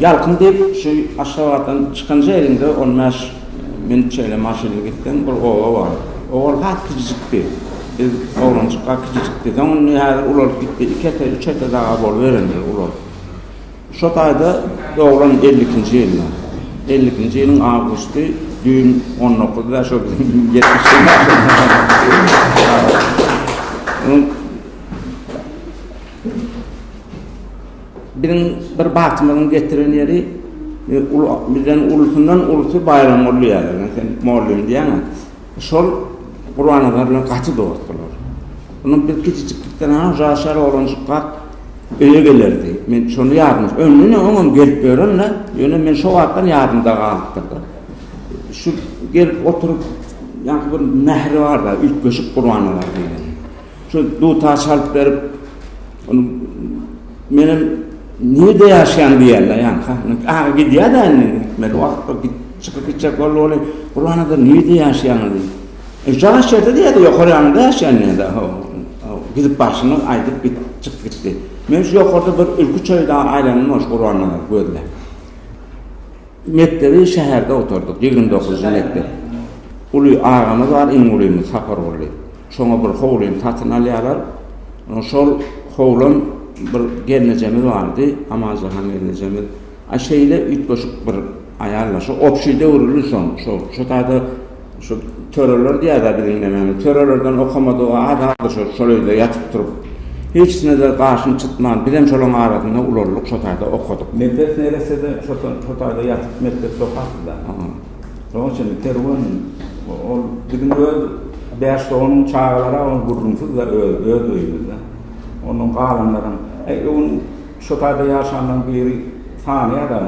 Ýalkym diýip, şu Aşgabatdan çykanja elinde on bäş minut şeýle maşynly gitseň, bir oba bar. Owal has kijijikdi. Biz oglanjykka kijijikdi. Soň indi häzir ulalyp gitdi. Iki ete, üç ete daga boluberendir ulalyp. Şo taýda doglan elli ikinji ýylda. Elli ikinji ýylyň awgusty, düýn on dokuzda şo biziň ýetmiş ýylymyz. Biziň bir bagtymyzyň getiren ýeri bizden ulusyndan ulusy Baýramguly diýýärler. Men sen mollym diýýäň-ä. Şol Gurbannazar bilen gaty dost bular. Onuň bir kiçijiklikden ha uzaga şäher oglanjykkak öýe gelerdi. Men şony ýadym. Öňüne oňam gelip ýören-le. Ýöne men şo wagtdan ýadymda galypdyr-da. Şu gelip oturyp ýaňky bir mähri bar-da, üýtgeşik Gurbannazar diýleni. Şu dutar çalyp berip, ony menem nirde ýaşaýan diýerler ýa ha. Aga gidýär-de indi gitmeli wagtda git çykyp gitjek boldy weli. Gurbanada nirde ýaşaýaňyz diýdi. E şaňa şertde diýdi, ýokary ýanyňda ýaşaýan diýdi. Ho, ho, gidip barşyny aýdyp git, çykyp gitdi. Men şu ýokarda bir ülki çöýdä aýlanyp dur Gurbanada gözle. Mekdebi şäherde gutardyk, ýigrimi dokuzynjy mekdep. Uly agamyz bar, iň ulymyz Sapargully. Şoňa bir howlyny satyn alýarlar. Şol howlan bir gelnejemiz bardy, Amanjahan gelnejemiz. A şeýle üýtgeşik bir aýal bar. Şo obşi döwrüli soň, şo şo taýda Şu töreler diýýäda biziň nämämiz. Törelerden okamadygy az az şol şol öýde ýatyp turup. Hiçnede gaşyny çytman bizem şolaň arasynda ulaldyk şo taýda okadyk. Mekdep neresede şo şo taýda ýatyp mekdepde okapdyda. Şoň üçin Kerwen ol biziň öz bäş doganyň çagalary ol gürrüňsiz-de öz öz öýümizde. Ondan galanlaram. Äý öň Şo taýda ýaşanlaň biri sany adam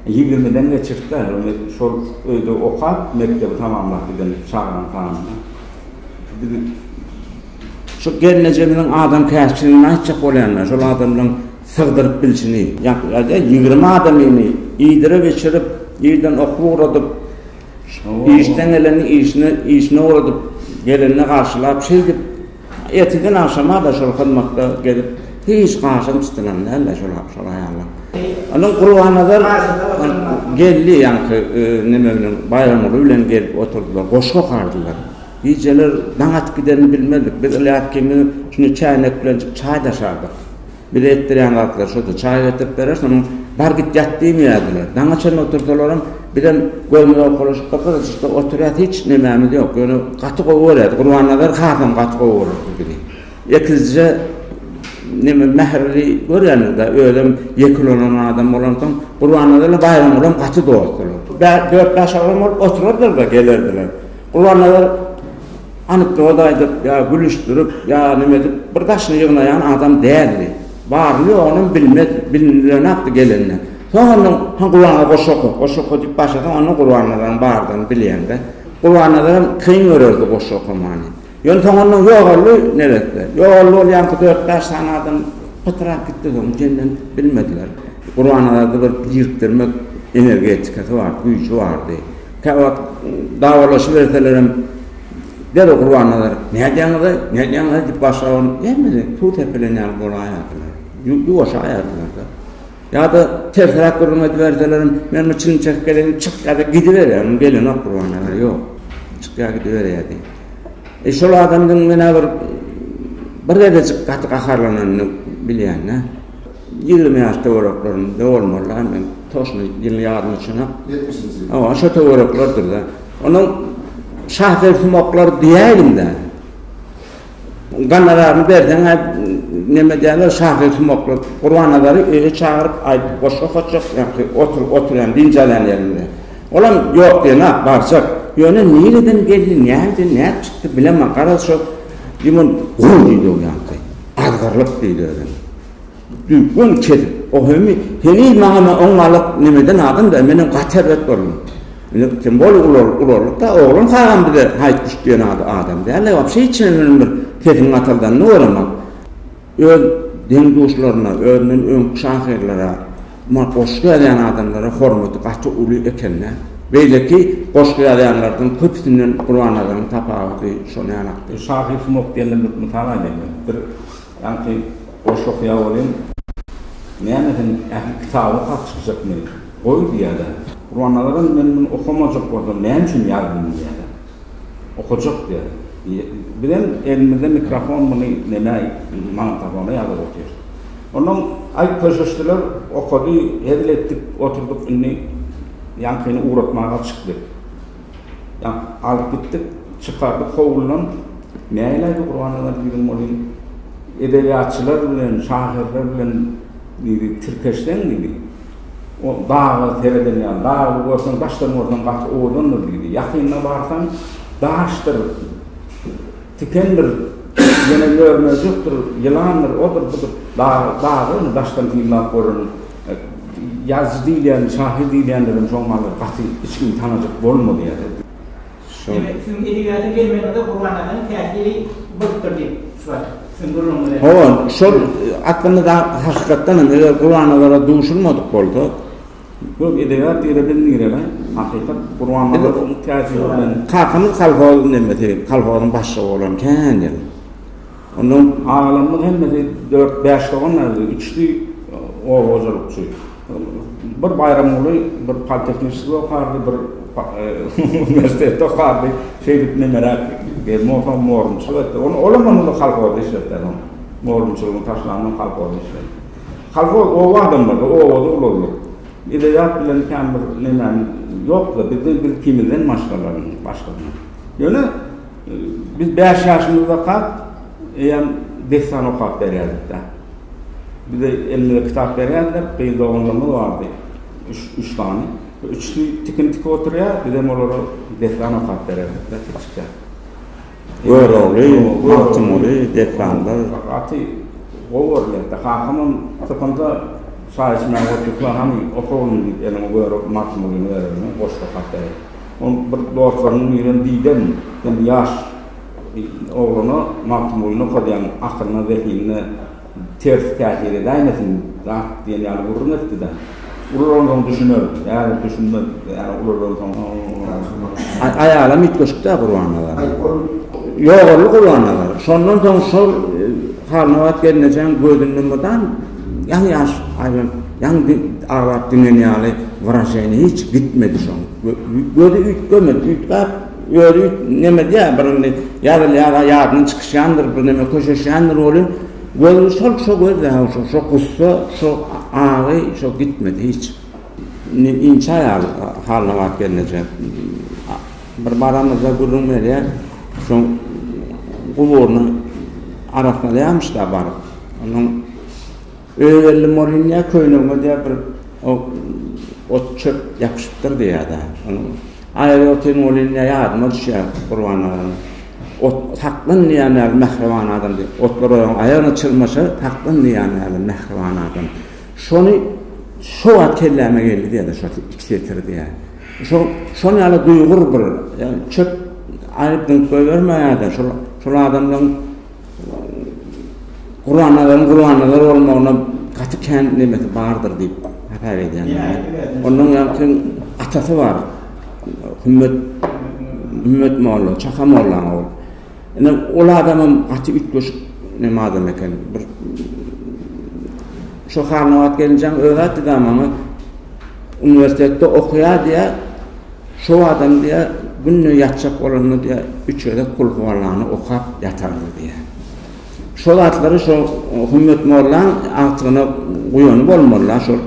ýigrimiden geçirtdä ony şol öýde okap mekdebi tamamlap giden çaganyň sanyna Şo gelnejemiziň adam käsçiligini aýtjak bolýanda şol adamlaň sygdyryp bilşini ýa-da ýigrimi adamyny iýdirip içirip irden okuw ugradyp işden geleni işine işine ugradyp gelende garşylap şeýdip Erteden agşama-da şol hyzmatda gezip, hiç gaşam çytylan däl-de şol aýallar. Ony Gurbanazar geldi, ýaňky neme bilen, Baýramguly bilen gelip oturdylar, goşgy okardylar. Gijeler daň atyp gidenini bilmezdik. Biz Ylýas kimdi, şuny çäýnek bilenjik çaý daşardyk. Bize etdirýän zatlary şudur, çaý getirip berer, sonuň bar git ýat diýmeýärdiler. Daňa çenli otursalaram, bizem gözümiz owkalaşyp durkar, şurada oturýas, hiç nemämiz ýok. Ýöne gaty gowy görýärdi. Gurbannazar hasam gaty gowy görerdi bizi. Ekizje neme mähirli görýändir-de, özem ýeke ulan adam bolansoň, Gurbannazar bilen Baýramgulam gaty dostdular. Dört-bäş agam bolup oturardylar-da, gelerdiler. Gurbannazar anekdot aýdyp ýa gülüşdirip ýa neme edip bir daşyny ýygnaýan adam däldi. Baryny-ýogynam bilmezdi. Bilinilonakdy gelende. Soň ondan Han Gurbanga goşgy oka, goşgy oka diýip başlasaň onda Gurbannazaryň bardygyny bilýäňdä. Gurbannazaram kyn görerdi goşgy okamany. Ýöne soň ondan ýogaldy neresse. Ýogaldy ol ýaňky dört-bäş sany adam pytrap gitdi soň jenden bilmediler. Gurbannazarda bir birikdirmek energetikasy bardy, güýji bardy. Käwagt dawalaşyberselerem, derrew Gurbannazar, Nädýäňiz-aý, nädýäňiz-aý diýip başga bir hemmesi suw sepilen ýaly bolaýýardylar. Ýuwaşaýardylar-da. Ýa-da tersräk gürrüň ediberselerem, Men bir çilim çekip geleýin, çyk ýa-da gidiberýär, gelenok Gurbannazar, ýok. Çykýar gidiberýärdi. E, şol adamdan menä bir bir gezejik gaty gaharlananyny bilýän-dä. Ýigrimi ýaşda bolaklarynda bolmalylar men toşna ýylyň ýaryma çenap. Ýetmişinji ýyl. Hawa, şo töwereklerdir-de. Onuň şasersumaklar diýäýdim-de. Ganoraryny berseň-ä neme diýerler, şasersumaklar. Gurbannazary öýe çagyryp, aýdyp goşgy okatjak, ýagşy oturyp oturýan, dynç alýan ýerinde. Olam ýok diýenok, barjak. Ýöne nireden geldi, nädip, nädip çykdy bilemok. Garaz, şo ýumun guw diýdi ol ýaňky. Azgyrylyp diýdi özem. Düwün kesip, o hemi, heniz maňa men on galak nemeden adam-da, menem gaty erbet boldum. Indi kim bol ular, ularlyk-da, oglan kagam bize haýt guş diýen ady adam däl-de, wapşe hiç hili bilen bir sesiň gataldanyny göremok. Öz deň-duşlaryna, özünden öňki şahyrlara, ma, goşgy ýazýan adamlara hormaty gaty uly eken-dä. Beýleki goşgy ýazýanlardan köpüsinden Gurbannazaryň tapawudy şonýanakdy. Şahyr sungat diýende bir mysal aýdaýyn men. Bir. Ýaňky goşgy okaýar welin, näme sen ähli kitaby sat çykjakmy? Goý diýýärler. Gurbannazaran men muny okamajak bolsam näme üçin ýazdym diýýärler. Okajak diýýär. Bizem elimizde mikrofon muny nämä magnitofona ýazyp otyr. Onnoň aýt köşeşdiler, okady, hezil etdik oturdyk indi ýaňkyny ugratmaga çykdyk. Ýa, alyp gitdik, çykardyk howludan, näleý bu Gurbannazar diýdigiň ony edebiýatçylar bilen, şahyrlar bilen diýdi, tirkeşseň diýdi, o daga sereden ýaly, dagy görseň, daşdan görseň gaty owadandyr diýdi. Ýakynyna barsaň, daşdyr, tikendir, ýene mör-möjekdir, ýylandyr, odur-budur, dagy dagy, ony daşdan synlap göreniň. Ýazyjy diýilýän, şahyr diýilýänlerem şoň maly gaty hiç kim tanajak bolmady ýa-da. Şoň. Siziň edebiýata gelmegiňize Gurban aganyň täsiri bolupdyr diýip çykyp atdy. Hawa, şol aslynda hakykatdan hem eger Gurban agara duşulmadyk bolsak. Ýok, edebiýat ýere biz nirelä? Hakykat Gurban aganyň täsiri bilen. Kakamyz kolhoz nemesi, kolhozyň başlygy bolan kän ýyl. Ondan agalarymyz hemmesi dört-bäş doganlardy, üçüsi oba hojalykçy. Bir Baýramguly bir politehniçede okardy, bir uniwersitetde okardy. Şeýdip nemeräk gelin bolsam morunçylyk etdi. Ony olam onda kolhozda işletdiler. Morunçylygyny taşlandan kolhozda işledi. Kolhoz oba adamlary, obada ulaldyk. Edebiýat bilen kän bir nemämiz ýokdy. Bizde biz ikimizden maşgalaň başgasyny. Ýöne Biz bäş ýaşymyzdakak eýýäm dessan okap berýärdik-dä. Bize elimize kitap berýärdiler, gyz doganlarymyz bardy, üç sany. Üçüsi tikin tikip oturýar, bizem olara dessan okap bererdik-dä kiçikkä. Görogly, Magtymguly dessanlar. Gaty gowy görýärdi. Kakamam typynda çaý içmäge otursa, Hany, oka oglum diýip, eliňe Görogly, Magtymgulyny berer, goşgy okap berer. Ol bir dostlarynyň birine diýden, Sen ýaş oglana Magtymgulyny okadýaň, akylyna, zehinine ters täsir edäýmesin zat diýen ýaly gürrüň etdi-de, Ululansoň düşüner, häzir düşünmez, ýa-da ululansoň Aýalam üýtgeşik-dä Gurban aga. Ýogaldy Gurban aga. Şondan soň şol Halmyrat gelnejeň gözünde mydam ýaňy ýaş aýlanyp, ýaňy aglap diňen ýaly wyraženiýa hiç gitmedi şoň. Gözi üýtgemedi, üýtgäp, özi üýt, nemedýä, bir indi ýazylýar-a, ýadyndan çykyşýandyr, birneme köşeşýändir welin, gözi şol, şo göz-dä, ha, şo, şo gussa, şo agy, şo gitmedi hiç. Indi inçe aýal halyna baryp gelneje, bir baramyzda gürrüň berýär, şoň guburyny arassalýarmyş-da baryp, onuň. Öz elli Morinýa köýnegime diýýär bir ot çöp ýapyşypdyr diýýär-de. Aýry otyn Morinýa ýadyma düşýär Gurban aganyň. Ot saklan diýýär näme mähriban adam diýip. Otlar oýaň aýagyna çyrmaşar saklan diýýär näme mähriban adam. Şony şo wagt kelläme geldi diýýär-de şo iki setir diýýär. Şo şon ýaly duýgur bir çöp aýryp dymyp goýbermäýär-de şol şol adamlaryň Gurbannazaryn Gurbannazar bolmagyna gaty kän nemesi bardyr diýip hasap edýänler. Ondan ýaňky atasy bar. Hümmet Hümmet molla, Çaka mollaň ogly. Ine ol adamam gaty üýtgeşik neme adam eken. Bir şu Harnabat gelinjeň özi aýtdy da maňa uniwersitetde okaýar diýär. Şo adam diýýär, günde ýatjak bolanda diýýär, üç gezek Kulhuwallany okap ýatardy diýýär. Şo zatlary şo Hümmet mollaň agtygyna guýany bolmaly-la şol.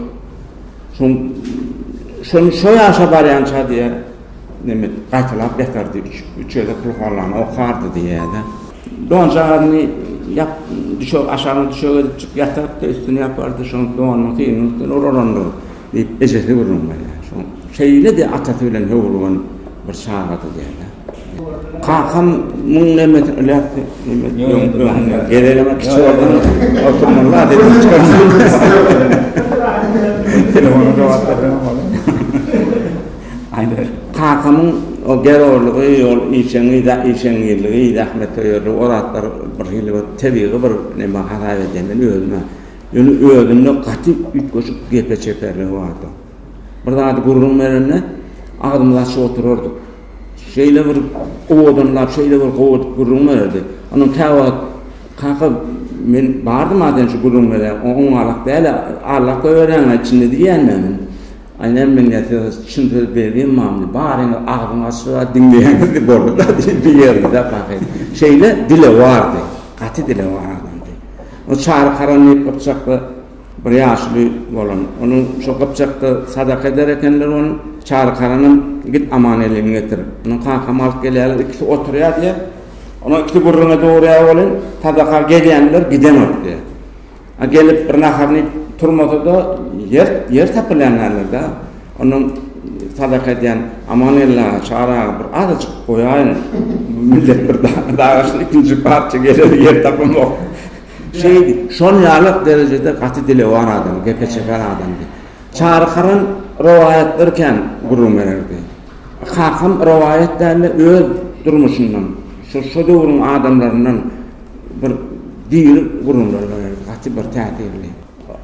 Şoň şony şo ýaşa barýança diýýär, neme, gaýtalap ýatardy, üç, üç gezek Kulhuwallany okardy diýýär-de. Donjagazyny ýap, düşek, aşagyna düşek edipjik ýatardy-da, üstüni ýapardy, şoň donunyň synynyň üstüne uralandygy. Diýip, ejesi gürrüň berýär. Şoň şeýle-de atasy bilen höwürgen bir çagady diýýärler. Kakam muň nemmesini iläpdi. Gezelenok kiçi oldum. Oturman zat edip çykardy. Aýdyr. Kakamyň o gerorlygy, ýol işeňi, işeňňirligi, zähmete ýörligi, o zatlar birhili bir tebigy bir neme hasap edýän men özüme. Ýöne özünde gaty üýtgeşik gepe çeperligi bardy. Bir zady gürrüň berende, agzymyzy açyp oturardyk. Şeýle bir owadanlap, şeýle bir gowy edip gürrüň bererdi. Onuň käwagt, Kaka, men bardym-a sen şu gürrüň berýän, oňňalak däl-ä, arlap goýberýäň-ä içinde diýýän men. Aý, näme men ýa size çyn söz berdimmami, baryňyz agzyňy açyp-a diňleýäňizdi, boldy-da diýerdi-dä kaka. Şeýle dile bardy, gaty dile bar adamdy. O çary karanlyk gypjakda bir ýaşuly bolan. Onuň şo gypjakda sadaka eder ekenler ony. Çary karanam Git aman elini getir. Munuň kakamy alyp gelýärler, ikisi oturýar diýýär. Onuň ikisi gürrüňe dogurýar welin, sadaka gelýänler gidenok diýýär. A gelip bir naharyny iýip turmasa-da, ýer ýer tapylýan ýalydyr-da. Onuň sadaka edýän Amanella çagaga bir azajyk goýaýyň. Millet bir dagaşyn ikinji parça geler ýer tapamok. Şeýdi. Şol ýaly derejede gaty dili bar adam, gepe çeken adamdy. Çary Karan rowaýatlary kän gürrüň bererdi. Kakam rowaýat däl-de öz durmuşyndan, şo şo döwrüň adamlaryndan bir diri gürrüňler bererdi. Gaty bir täsirli.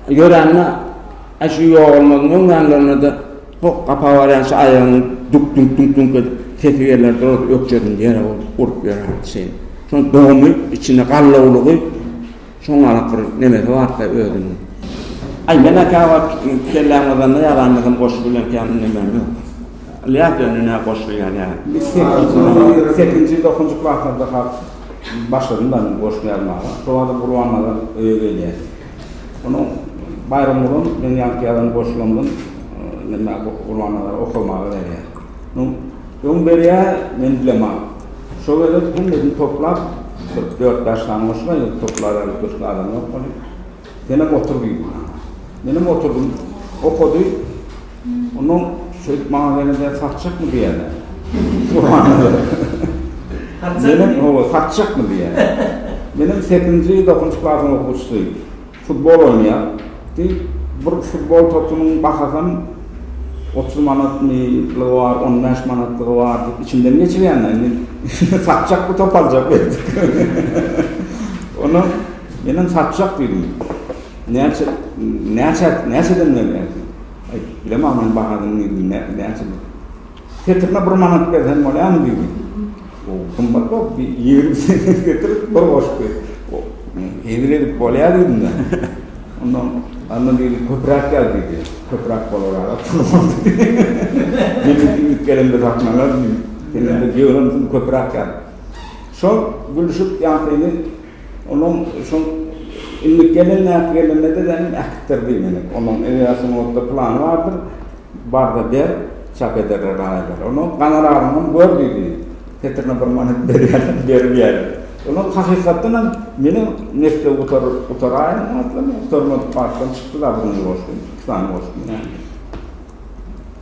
Ýörände, aý şu ýogalmagyň öň ýanlarynada hok gapa barýan şu aýagyny duk dunk dunk dunk edip sesi gelýär durasy ökjediň ýere urup ýörän çyn. Şoň dogumy içinde gallawlygy şoň galak bir nemesi barka özüniň. Aý menä käwagt kelläm gyzanda ýaramyzam goşgy bilen kän ündemän ýok. Ylýas ýöne nä goşgy ýazýar. Sekizinji sekizinji dokuzynjy klaslarda has başladym ben goşgy ýazmaga. Şobada Gurbannazar öýe gelýär. Onuň Baýramgulyň meň ýanky ýazan goşgymdan neme Gurbannazar okamaga berýär. Onuň öň berýär, men bilemok. Şo gezek hemmesini toplap, bir dört-bäş sany goşga ýygyp toplaberdik, köşkde adam ýok welin. Senem otur diýdi maňa. Menem oturdym. Okady. Onda şeýdip maňa gelende satjakmy diýäýne. Subhanallah. Satjakmy? Hawa, satjakmy diýäýne. Menem sekizinji, dokuzynjy klasyň okuwçysy. Futbol oýnaýar. Diýip, bir futbol topunyň bahasam otuz manatmy, on bäş manatlygy bar diýip, içimden geçirýän-ä. Indi satjak bu top aljak. Onda menem satjak diýdim. Näçe, näçe, näçeden berýärsiň? Aýt, bilemok men bahasyny diýdim, nä, näçe bu? Setirine bir manat berseň bolýarmy diýdi. O gymmat bolup, bir ýigrimi sent getirip, bir goşup ber. O, hezil edip bolýar diýdim men. Ondan, onda diýdi, köpräk ýaz diýdi. Köpräk bolara pul boldy. Meniňki ilki gelemde satnalar diýdi. Sen indi ýygrym sent köpräk ýaz. Şol gülüşip, ýagtyny. Onuň şol Indi gelen näp gelende de sen äkitdir diý meni. Onuň edeýat sungatda plany bardyr. Bar-da ber, çap ederler aýalar. Onuň ganoraryny hem gör diý diýdi. Setirine bir manat berýärler, berip ýäler. Onuň hakykatdan hem meni nesle gutaraýyn aslym, gutarmadyk başdan çykdy-da, bir gün goşdum, iki sany goşdum.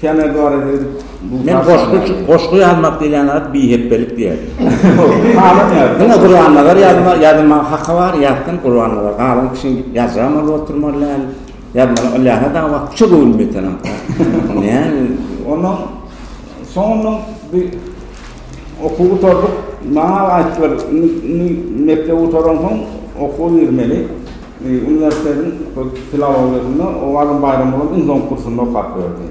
Temel barada edip bu Men goşgy goşgy ýazmak diýilýän zat bihepbelik diýer. Halan ýa. Diňe Gurbannazar ýazma ýazma haka bar ýatdan Gurbannazar galan kişi ýazjam bolup oturmaly däl. Ýazmaly Ilýasa da wagt şu gün metelem. Näme? Ondan soňundan bir okuw gutardyk. Maňa aýtdylar, indi mekdep gutaransoň okuwa girmeli. Uniwersitetiň filologiýasynda Owadan Baýramoglum iň soňky kursunda okap berdi.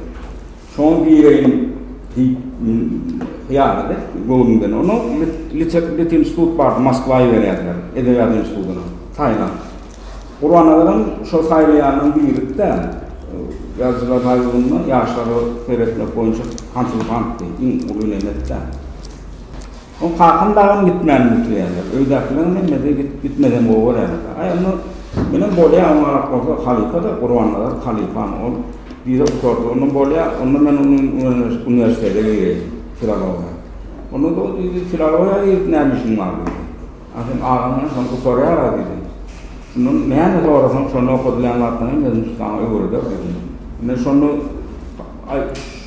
Şoňa gireýin diýip hyýalady göwnünden. Onuň Lit institut bardy, Moskwa iberýärdiler, edebiýat institutyna, Tailand. Gurbanazaram şol saýlaýanlaryň biridi-de, Ýazyjylar paýlygynda ýaşlara seretmek boýunça Hançuly Hantdy, iň uly nemetde. Oň kakam dagam gitmänini bitirýärler. Öýdäkileriň hemmesi gitmesem gowy görýärler. Aý, onda menem bolýa, oňa garak bolsa halypa-da, Gurbannazar halypam. Ol wiza utordy, onda bolýa, onda men uniwersitete gireýin, filologiýa. Onda-da ol diýdi, Filologiýa girip näme işiň bar diýdi. A sen agaňdan şony gutarýar-a diýdi. Şundan näme sorasaň, şonda okadylýan zatlaryň hemmesini şu saňa öwreder diýdi. Men şonda, aý,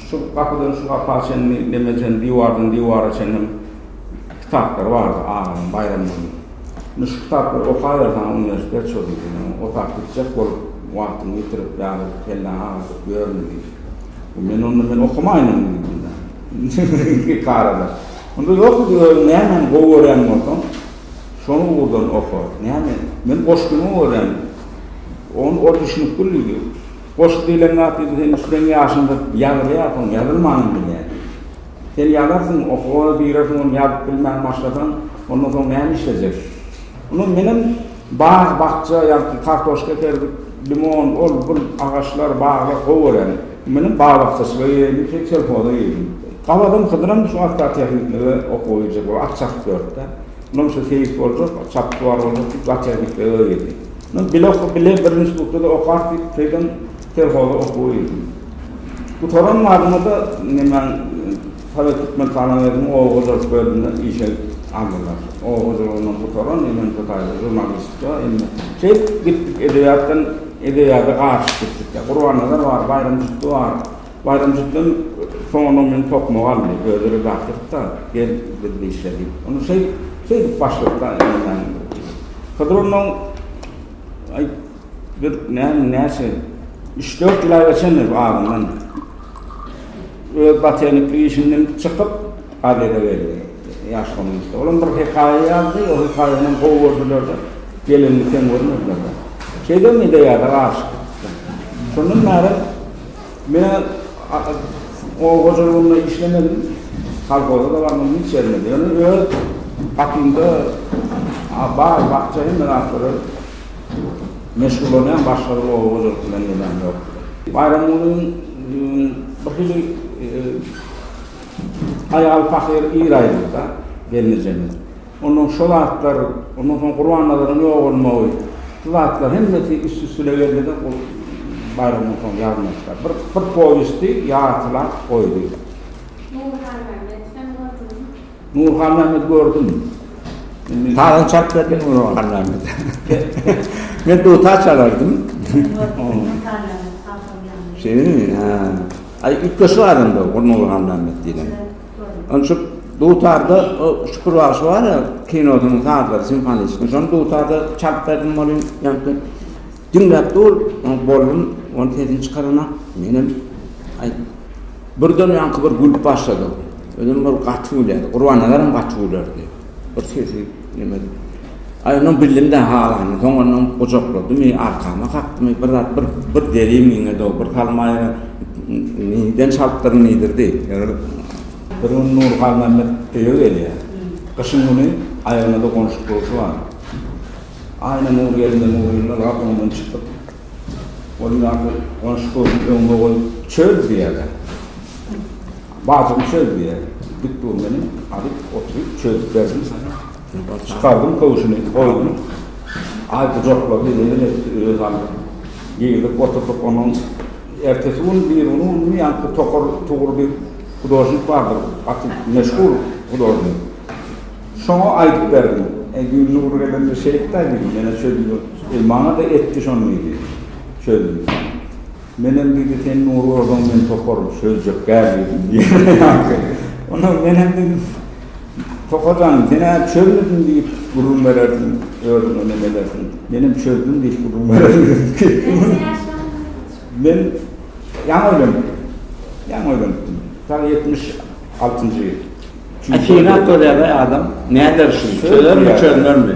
Şu gapydan şu gapa çenli lemejen diwardan diwara çenli kitaplar bardy aganyň, Baýramgulyň. Indi şu kitaplary okaber saňa uniwersitet çöri diýdi. Men otap gitjek bolup wagtymy ýitirip ýaly kelläňi agyrdyp ýörme diýdi. Men onda men okamaýynam diýdim onda. Iki karada. Onda ýok diýdi özüň nämäni gowy görýän bolsaň şoň ugurdan oka. Näme? Men goşgyňy görýän. Ony ol düşünip dur diýdi. Goşgy diýlen zat indi seniň kürän ýaşyňda ýazylýar, soň ýazylmanam bilýär. Sen ýazarsyň, okuwa girersiň, ony ýazyp bilmän başlasaň, ondan soň näme işlejek? Ony menem bag, bakja, ýagty kartoşka ekerdik, limon, ol, bul agaçlar, baglar gowy görýärin. Menem bag-bakjaçylyga gireyindim, soň selhoza girdim. Gabadam Hydyram şu agrotehniklige okuwa girjek bolup, at çapyp ýörüp-de. Munuň şu seýis boljak, çapyp bar boljak diýip, zootehniklige girdi. Men bile oka bile bir institutda-da okar diýip teýden selhoza okuwa girdim. Gutaran madyma-da nemäň Sowet Türkmentalanweginiň oba hojalyk bölümine işe aldylar. Oba hojalygyndan gutaran, emençe taýda žurnalistga, indi şeýdip gitdik edebiýatdan edebiýada garyşyp gitdik. Gurbannazar bar, Baýram Jüpdi bar. Baýramjykdan soňundan meni tokmaga aldy. Özi redaktordy-da, Gel, biz bir işle diýip. Onda şeý, şeýdip başladyk-da ýaňy-ýaňy. Hydyr onnoň, aý, bir näme, näçe, üç-dört ýyla geçendir bu adamdan. Öz botaniklik işinden çykyp, gazete geldi. Ýaş kommunistde. Olam bir hekaýa ýazdy, o hekaýany gowy gördüler-de, gelenini kem görmediler-de. Şeýdem ideýada garşy çykdy. Şondan bäri. Menä oba hojalygynda işlemedim, kolhoza-da barmadyň, hiç ýerime-de. Ýöne öz gapymda bag, bakja hemme zatlara meşgullanýan, başga bir oba hojalyk bilen nemäm ýok. Baýramgulyň birhili aýaly pahyr ir aýryldy-da, gelnejemiz. Ondan şo zatlar, ondan soň Gurbannazaryň ýogalmagy, şu zatlar hemmesi üst-üstüne geldi-de, ol baýramdan soň ýazmaçlar bir bir powesti ýartylap goýdy. Nurhanmämmet hem gördüňizmi? Nurhanmämmedi gördüm. Indi. Salam çap berdim Nurhanmämmede. Men dutar çalardym. Nurhanmämmet halkyň ýanynda. Şeýlemi? Hä. Aý, üýtgeşik adam-da Nurhanmämmet diýlen. Ol şu dutarda Şükür bagşy bar ýa, kinosynyň sazlary simfonistiniň. Şony dutarda çalyp berdim welin, ýaňky diňläp dur, ony boldum, ony sesini çykaranak. Menem aýt. Birden ýaňky bir gülüp başlady. Özem bir gaty gülýärdi. Gurbannazar hem gaty gülerdi. Bir sesi nemedi. Aýnur bildim-dä halany, soňanam gujakladymy, arkama kakdymy, bir zat, bir, bir deri miňedi-ow, bir salmaýa niden çaltdyr nidirdi. Bir gün Nurgalmämmet öýe gelýär. Gyşyň güni aýagyna-da gonşuk durşy bar. Aýna Nur gelin-de Nur gelin-de bar, oňdan çykyp, ol ýaly gonşuk durşuny öňüme goýup, Çöz! diýýärler. Bajymy çöz diýýär. Dik dur meni alyp oturyp çözüp berdim. Çykardym köwşüni goýdum. Aý gujaklady neneň etdi öz alyp. Girdik oturdyk onuň ertesi gün birigüni günümi ýaňky Tokar Tugur diýip hudožnik bardyr gaty meşhur hudožnik. Şoňa aýdyp berdim. Eý Gülnur gelende şeýtdä diýdim menä çözüp ýör. Eý maňa-da etdi şony diýdim. Çözdüm. Menem diýdi, sen Nury urduň, men topar çözjek däl diýdim diýýär ýaňky. Onda menem diýdim, Topar jan, sen-ä çözmediň diýip gürrüň berersiň, özüňe nem edersiň. Menem çözdüm diýip gürrüň berersiň. Men ýaňy öýlenipdim. Ýaňy öýlenipdim. Sag ýetmiş altynjy ýyl. Atyna köläge adam näder şul, çözermi çözmezmi?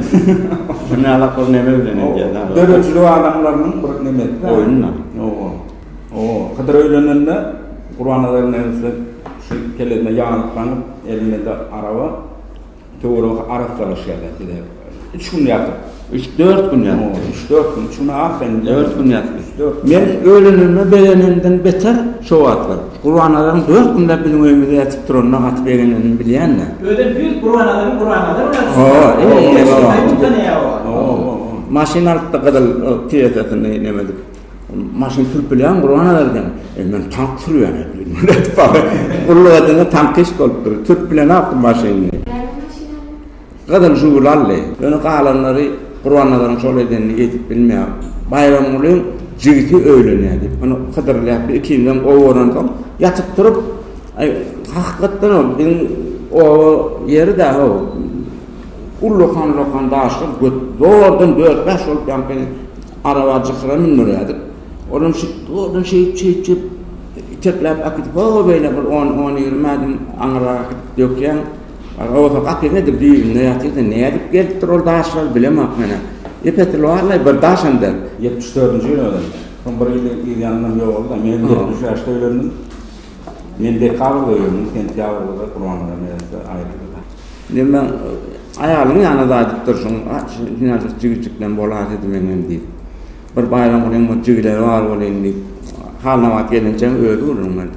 Şuny alak bir neme bilen edýär dagy. Döredijilik adamlarynyň bir nemesi dä. Oýun da. Oba. Oba. Hydyr öýlenende Gurbannazar neneçe şu kellesine ýaglyklanip, elinde araba, töweregi arassalaşýar. Üç gün ýatyp. Üç, dört gün ýatyp. Üç, dört gün. Üçüne aferin. Dört gün ýatyp. Üç, dört gün. Men ölenime begenenimden beter şo wagtlar. Gurbanazaryň dört günläp biziň öýümizde ýatyp duranyna gaty begenenimi bilýän-le. Özem düýt Gurbanazaryň Gurbanazaryň ýatyşyna. Ho-o. Maşyn alyp-da gyzyl tiresasyny neme edip. Maşyn sürüp bilýäňmi Gurbanazar diýen. E, men tank sürýän edin. Gulluk edende tankyst bolupdyr. Sürüp bilenokdym maşynyny. Näme maşyn? Gyzyl Žugul aldy. Ýöne galanlary Gurbannazaryň şol edenini ýetip bilmeýär. Baýramgulyň jigisi öýlenýär diýip, ony hydyrlaýar. Biz ikimizem gowy görensoň, ýatyp-turup, Aý, hakykatdanam, biziň oba ýeri-dä-how, ullakan-ulakan daşlar, gök. Zordan dört-bäş bolup ýaňky araba jykyra mündürýärdik. Olam şeýdip, zordan şeýdip-şeýdip, itekläp äkidip, ho-ho beýle bir on-on ýigrimi ädim aňyrrak äkidip dökýäň. Aga bolsa gapyň edil düýbünde ýatyr sen nädip gelipdir ol daşlar bilemok menä. Ýepetil barlaý bir daş hem-de. Ýetmiş dördünji ýyl özem. Soň bir ýyl yz ýanyndan ýogaldy-da. Men hem ýetmiş bäşde öýlendim. Men dekabrda öýlendim, sentýabrda-da Gurbannazar neressi aýryldy-da. Indi men aýalyň ýanyna daýdyp durşuň, hinaşyk jigijikleň bolar diýdi meň hem diýip. Bir baýram gurýan bir jigileri bar welin diýip, halnabat gelinjeň özi gürrüň berdi.